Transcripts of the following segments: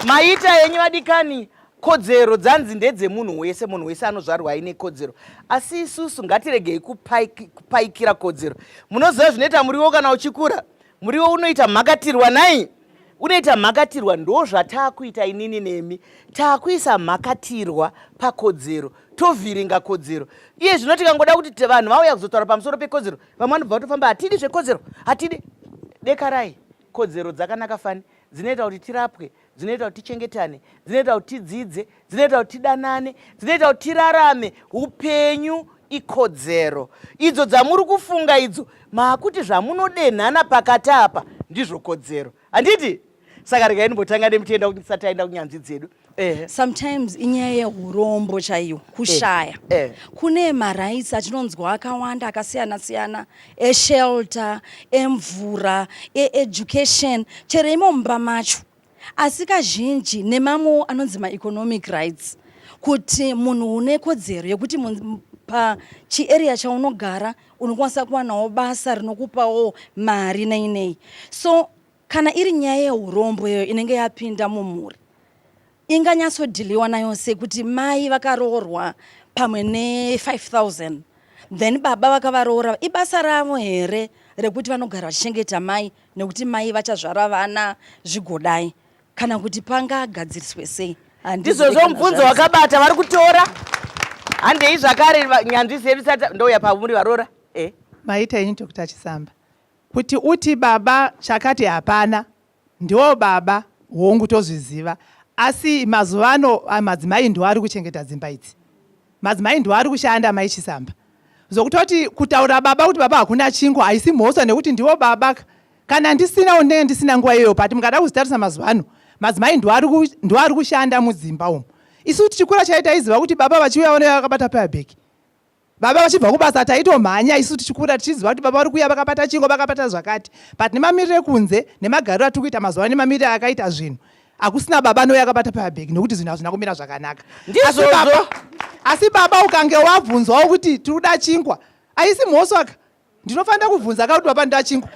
maita henyu vadikani kodzero dzanzi ndedzemunhu wese munhu wese anozvarwa aine kodzero asi isusu ngatiregei kupaikira kodzero munoziva zvinoita muriwo kana uchikura Muriwo unoita mhakatirwa nai unoita mhakatirwa ndozvataakuita inini nemi taakuisa mhakatirwa pakodzero tovhiringa kodzero iye zvino tikangoda kuti vanhu vauya kuzotaura pamusoro pekodzero vamwe vanobva vatofamba hatidi zvekodzero hatidi dekarai kodzero dzakanaka fani dzinoita kuti tirapwe dzinoita kuti tichengetane dzinoita kuti tidzidze dzinoita kuti tidanane dzinoita kuti tirarame upenyu ikodzero idzo dzamuri kufunga idzo maakuti zvamunodenhana pakati apa ndizvo kodzero handiti saka regai ndimbotanga nemutenda kuti ndisati aenda kunyanzvi dzedu eh. sometimes inyaya yeurombo chaiyo kushaya eh. eh. kune marights atinonzwa akawanda akasiyana siyana eshelter emvura eeducation chero imo mumba macho asi kazhinji nemamwewo anonzi maeconomic rights kuti munhu une kodzero yekuti pachiarea chaunogara unokwanisa kuwanawo basa rinokupawo mari nei nei so kana iri nyaya yeurombweyo inenge yapinda mumhuri inganyatsodhiliwa nayo sekuti mai vakaroorwa pamwe ne5000 then baba vakavaroora ibasa ravo here rekuti vanogara vachichengeta mai nekuti mai vachazvara vana zvigodai kana kuti pangagadziriswe sei handizvozvo mubvunzo wakabata vari kutora handei zvakare nyanzvi zedu sati ndouya pamuri varoora e eh. maita ini dr chisamba kuti uti baba chakati hapana Ndiwo baba hongu tozviziva asi mazuva ano ah, madzimai ndiwo ari kuchengeta dzimba idzi madzimai ndiwo ari kushanda mai chisamba zvokutoti kutaura baba kuti baba hakuna chingo haisi mhosva nekuti ndiwo baba kana ndisina unenge ndisina nguva iyoyo but mukada kuzvitarisa mazuva ano madzimai ndiwo ari kushanda mudzimba umu isu tichikura chaitaiziva kuti baba vachiuya vanouya vakabata payabheki baba vachibva kubasa taitomhanya isu tichikura tichiziva kuti baba vari kuuya vakabata chingo vakabata zvakati but nemamiriro ekunze nemagariro atiri kuita mazuva ano nemamiriro akaita zvinhu hakusina baba nouya akabata pabhegi nokuti zvinhu hazvina kumira zvakanaka asi baba ukange wabvunzwawo kuti tiri kuda chingwa haisi mhoswaka Ndinofanira kuvhunza ka kuti baba ndachingwa.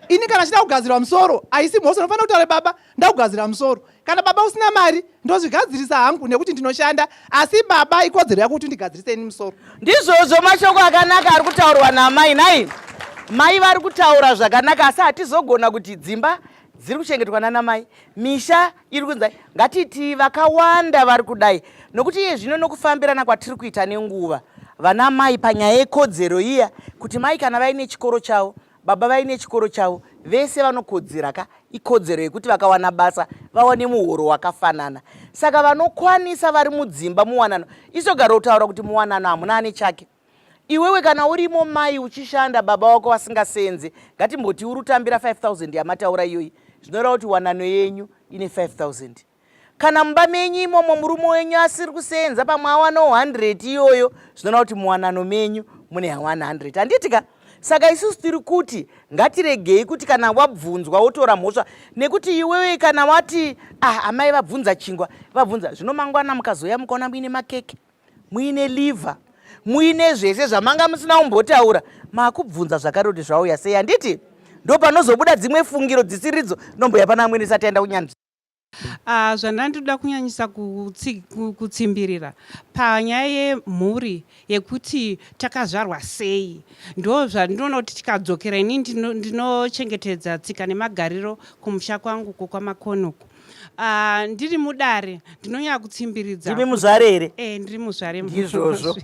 Ini kana chida kugadzirwa musoro, haisi mhosva ndinofanira kutaura baba ndakugadzira musoro. Kana baba usina mari, ndozvigadzirisa hangu nekuti ndinoshanda, asi baba ikodzero yako kuti ndigadzirise ini musoro. Ndizvozvo mashoko akanaka ari kutaurwa namai nai. Mai vari kutaura zvakanaka asi hatizogona kuti dzimba dziri kuchengetwa nana mai, misha iri kunzi ngatitii vakawanda vari kudai nokuti iye zvino nokufambirana kwatiri kuita nenguva vana mai panyaya yekodzero iya kuti mai kana vaine chikoro chavo baba vaine chikoro chavo vese vanokodzera ka ikodzero yekuti vakawana basa vawane muhoro wakafanana saka vanokwanisa vari mudzimba muwanano isogaro kutaura kuti muwanano hamuna ane chake Iwewe kana urimo mai uchishanda baba wako vasingasenze ngatimboti uri utambira 5000 yamataura iyoyi zvinoreva kuti wanano yenyu ine 5000 kana mumba menyu imomo murume wenyu asiri kusenza pamwe awana 100 iyoyo zvinoreva kuti muwanano menyu mune 100 handiti ka saka isusu tiri kuti ngatiregei kuti kana wabvunzwa wotora mhosva nekuti iwewe kana wati ah amai vabvunza chingwa vabvunza zvino mangwana mukazouya mukaona muine makeke muine liver muine zvese zvamanga musina kumbotaura makubvunza zvakare kuti zvauya sei handiti ndo panozobuda dzimwe fungiro dzisiridzo nomboya pana amwene isati aenda kunyanzvi Uh, zvandandinoda kunyanyisa kutsimbirira panyaya yemhuri yekuti takazvarwa sei ndo zvandinoona kuti tikadzokera ini ndinochengetedza tsika nemagariro kumusha kwangu ko kwamakonoku Ah, ndiri mudare ndinonyanya kutsimbiridza ndimi muzvare here eh, ndiri muzvare ndizvozvo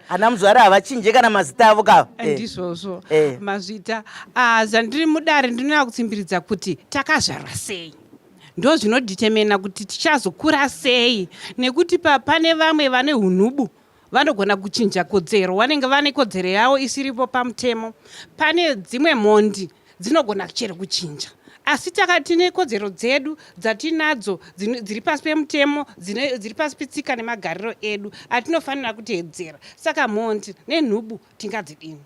ana muzvare havachinje kana mazita avo kava eh, eh. ndizvozvo eh. mazvita ah, zvandiri mudare ndinonyanya kutsimbiridza kuti takazvarwa sei ndo zvinodetemena kuti tichazokura sei nekuti pane vamwe vane unubu vanogona kuchinja kodzero vanenge vane kodzero yavo isiripo pamutemo pane dzimwe mhondi dzinogona chero kuchinja asi taka tine kodzero dzedu dzatinadzo dziri pasi pemutemo dziri pasi petsika nemagariro edu atinofanira kuteedzera saka mhondi nenhubu tingadzidini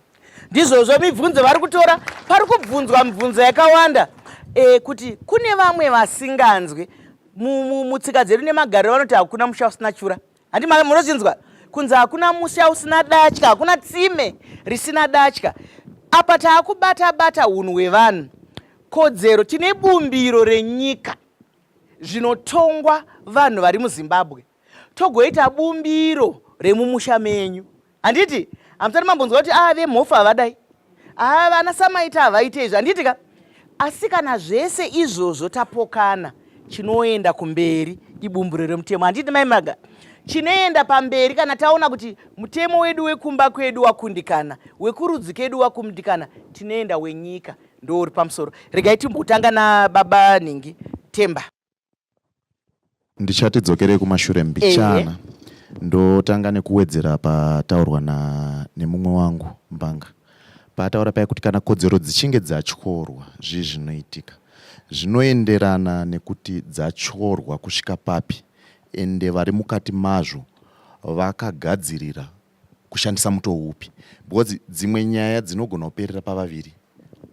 ndizvozvo mibvunzo vari kutora pari kubvunzwa mibvunzo yakawanda e, kuti kune vamwe vasinganzwi mutsika dzedu nemagariro vanoti hakuna musha usina chura handi munochinzwa kunzi hakuna musha usina datya hakuna tsime risina datya apa taakubata bata unhu hwevanhu kodzero tine bumbiro renyika zvinotongwa vanhu vari muzimbabwe togoita bumbiro remumusha menyu handiti hamusati mambonzwa kuti aa ah, vemhofu havadai aa ah, vana samaita havaite izvi handiti ka asi kana zvese izvozvo tapokana chinoenda kumberi ibumburo remutemo handiti mai maga chinoenda pamberi kana taona kuti mutemo wedu wekumba kwedu wakundikana wekurudzi kedu wakundikana tinoenda wenyika ndouri pamusoro regai timbotanga nababa nhingi temba ndichati dzokerei kumashure mbichana ndotanga nekuwedzera pataurwa nemumwe wangu mbanga paataura paya kuti kana kodzero dzichinge dzatyorwa zvii zvinoitika zvinoenderana nekuti dzatyorwa kusvika papi ende vari mukati mazvo vakagadzirira kushandisa mutoo upi because dzimwe nyaya dzinogona kuperera pavaviri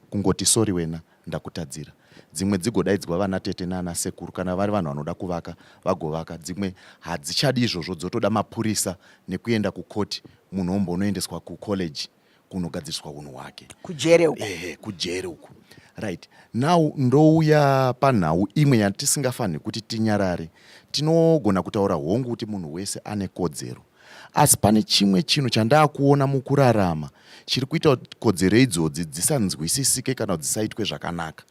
kungoti sori wena ndakutadzira dzimwe dzigodaidzwa vana tete nana sekuru kana vari vanhu vanoda kuvaka vagovaka dzimwe hadzichadi izvozvo dzotoda mapurisa nekuenda kukoti munhu ombonoendeswa kucollege kunogadziriswa unhu hwake kujere uku ehe kujere uku right now ndouya panhau imwe yatisingafanhi kuti tinyarare tinogona kutaura hongu kuti munhu wese ane kodzero asi pane chimwe chinhu chandaakuona mukurarama chiri kuita kuti kodzero idzodzi dzisanzwisisike kana kuti dzisaitwe zvakanaka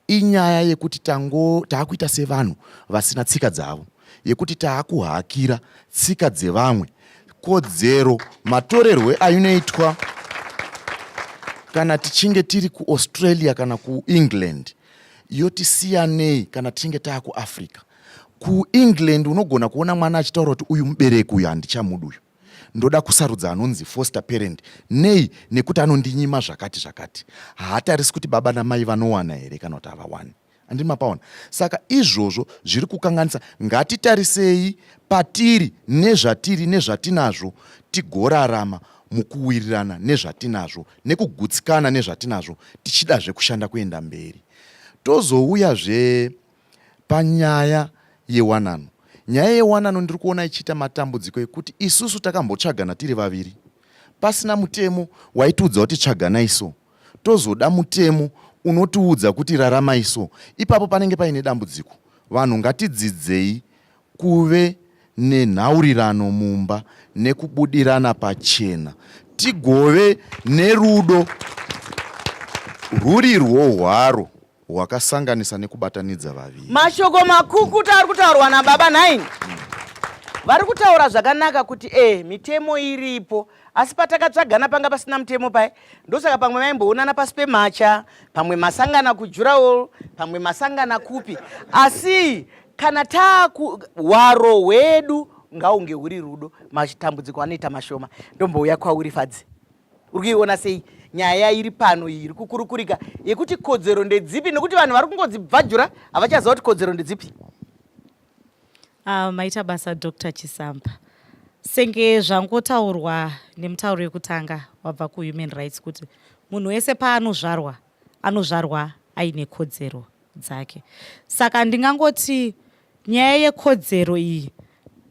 inyaya yekuti tango taakuita sevanhu vasina tsika dzavo yekuti taakuhakira tsika dzevamwe kodzero matorerwe ainoitwa kana tichinge tiri kuaustralia kana kuengland yotisiyanei kana tichinge taa kuafrica kuengland unogona kuona mwana achitaura kuti uyu mubereki uyu handichamuda uyu ndoda kusarudza anonzi foster parent nei nekuti anondinyima zvakati zvakati haatarisi kuti baba namai vanowana here kana kuti havawani andini mapaona saka izvozvo zviri kukanganisa ngatitarisei patiri nezvatiri nezvatinazvo tigorarama mukuwirirana nezvatinazvo nekugutsikana nezvatinazvo tichida zvekushanda kuenda mberi tozouya zve panyaya yewanano nyaya yewanano ndiri kuona ichiita matambudziko ekuti isusu takambotsvagana tiri vaviri pasina mutemo waitiudza kuti tsvaganai so tozoda mutemo unotiudza kuti raramai so ipapo panenge paine dambudziko vanhu ngatidzidzei kuve nenhaurirano mumba nekubudirana pachena tigove nerudo rwuri rwohwaro hwakasanganisa nekubatanidza vaviri. Mashoko makukuta ari kutaurwa nababa nhaini vari kutaura zvakanaka kuti eh mitemo iripo asi patakatsvagana panga pasina mutemo paye ndosaka pamwe vaimboonana pasi pemacha pamwe masangana kujurawo pamwe masangana kupi asi kana taku hwaro hwedu ngaunge huri rudo matambudziko anoita mashoma ndombouya kwauri fadzi uri kuiona sei nyaya iri pano iyi iri kukurukurika yekuti kodzero ndedzipi nekuti vanhu vari kungodzibvajura havachaziva kuti kodzero ndedzipi ah, maita basa dr chisamba senge zvangotaurwa nemutauro yekutanga wabva kuhuman rights kuti munhu wese paanozvarwa anozvarwa aine kodzero dzake saka ndingangoti nyaya yekodzero iyi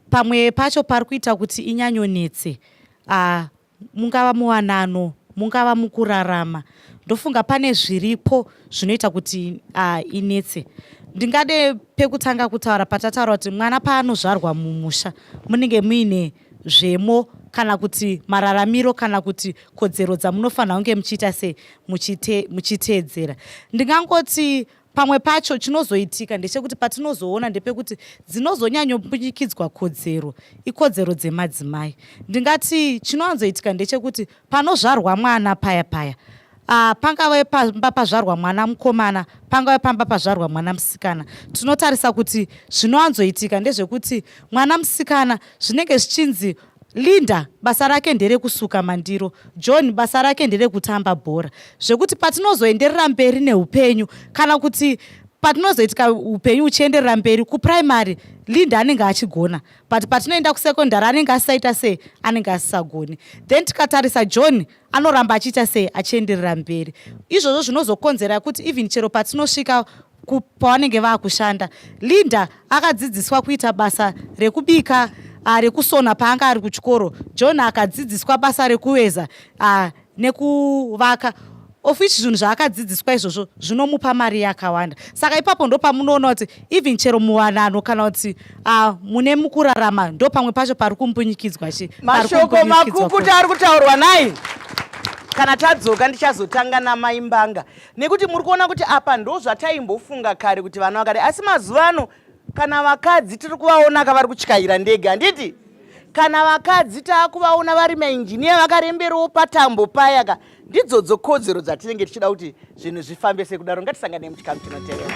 pamwe pacho pari kuita kuti inyanyonetse ah, mungava muwanano mungava mukurarama ndofunga pane zviripo zvinoita kuti uh, inetse ndingade pekutanga kutaura patataura kuti mwana paanozvarwa mumusha munenge muine zvemo kana kuti mararamiro kana kuti kodzero dzamunofanira kunge muchiita sei muchiteedzera ndingangoti Pamwe pacho chinozoitika ndechekuti patinozoona ndepekuti dzinozonyanyopfunyikidzwa kodzero ikodzero dzemadzimai. Ndingati chinowanzoitika ndechekuti panozvarwa mwana paya paya Uh, pangave pamba pazvarwa mwana mukomana pangave pamba pazvarwa mwana musikana tinotarisa kuti zvinowanzoitika ndezvekuti mwana musikana zvinenge zvichinzi Linda basa rake nderekusuka mandiro, John basa rake nderekutamba bhora. Zvekuti patinozoenderera mberi neupenyu kana kuti patinozoitika upenyu uchienderera mberi kuprimary linda anenge achigona but patinoenda kusecondary anenge asisaita sei anenge asisagoni then tikatarisa john anoramba achiita sei achienderera mberi izvozvo zvinozokonzera kuti even chero patinosvika pavanenge vakushanda linda akadzidziswa kuita basa rekubika uh, rekusona paanga ari kuchikoro john akadzidziswa basa rekuveza uh, nekuvaka of which zvinhu zvaakadzidziswa izvozvo zvinomupa mari yakawanda saka ipapo ndo pamunoona kuti even chero muwanano kana kuti uh, mune mukurarama ndo pamwe pacho pari kumbunyikidzwa chi mashoko makukuta ari kutaurwa nai kana tadzoka ndichazotanga namai mbanga nekuti muri kuona kuti apa ndo zvataimbofunga kare kuti vana vakare asi mazuva ano kana vakadzi tiri kuvaona ka vari kutyaira ndege handiti kana vakadzi taakuvaona vari mainjiniya vakaremberawo patambo paya ka ndidzodzo kodzero dzatinenge tichida kuti zvinhu zvifambe sekudaro ngatisanganei muchikamu chinotevera